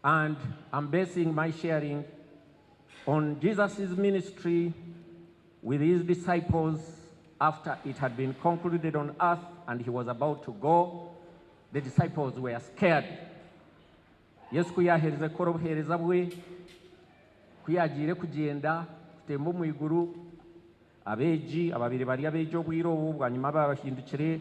and am basing my sharing on Jesus's ministry with his disciples after it had been concluded on earth and he was about to go the disciples were scared Yesu ku yaherize kukora obuhereza bwe ku yagiire kugyenda kutemba omu iguru abeegi ababaire bari abeegi obwire obu bwanyima bahindukire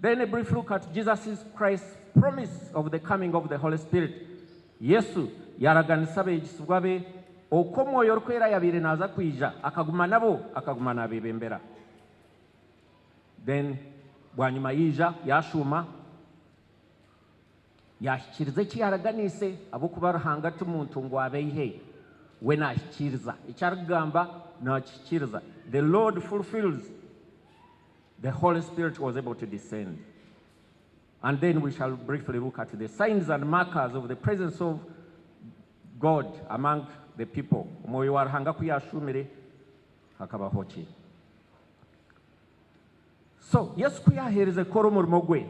Then a brief look at Jesus's Christ's promise of the coming of the Holy Spirit. Yesu yaaraganisa abeegisibwa be oku Omwoyo Orikwera yaabaire naaza kwija, akaguma nabo, akaguma naabeebembera. Then bwanyima yaija, yaashuuma, yaahikiriza eki yaaraganiise, ahabw'okuba Ruhanga ti muntu ngu abe eihe, we naahikiriza eki arikugamba, naakihikiriza. The Lord fulfils. The Holy Spirit was able to descend and then we shall briefly look at the signs and markers of the presence of God among the people omwoyo wa Ruhanga ku yashuumire hakabaho ki? So Yesu ku yaheerize kukora omurimo gwe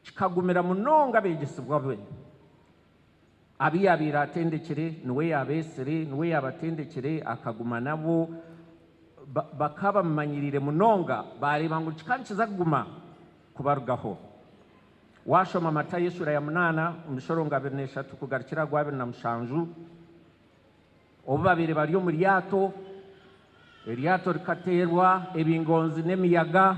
kikagumira munonga abeegyesibwa be. Abu yaabaire atendekire, niwe yaabeetsire, niwe yaabatendekire, akaguma nabo. Ba, bakaba bamumanyiriire munonga, baareeba ngu kika nikiza kuguma kubarugaho. Waashoma Matayo eshuura ya munaana, omushorongwa abiri n'eshatu kugarukira aha gw'abiri na mushanju, obu baabaire bari omu ryato, eryato rikateerwa ebingonzi n'emiyaga,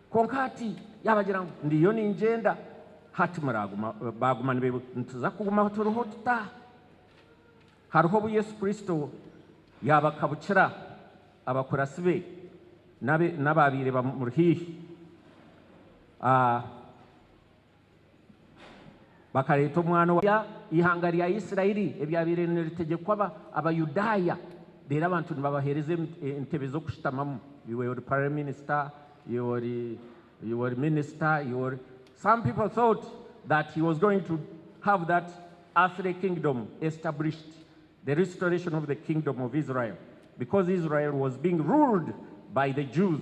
Kwonka hati yaabagira ngu, Ndiyo ningyenda, hati muraaguma. Baaguma nibeebuza, Nituza kuguma ahu turiho tuta? Hariho obu Yesu Kristo yaabakabukira abakuratsi be n'abaabaire bamuri haihi? a. Bakareeta omwana owa eihanga rya Isiraeli eryabaire niritegyekwa Abayudaaya, reero abantu nibabaheereza entebe z'okushutamamu. You were prime minister, you were, you were minister, you were. Some people thought that he was going to have that earthly kingdom established, the restoration of the kingdom of Israel, because Israel was being ruled by the Jews.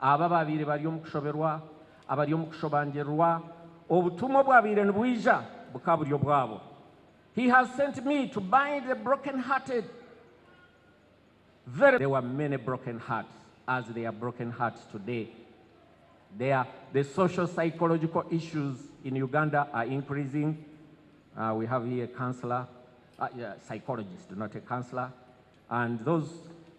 Abo abaabaire bari omu kushoberwa, abari omu kushobangirirwa, obutumwa obwabaire nibwija bukaba buri obwabo. He has sent me to bind the broken hearted, verily there were many broken hearts as there are broken hearts today. There the social psychological issues in Uganda are increasing, we have here a counsellor, psychologist not a counsellor, and those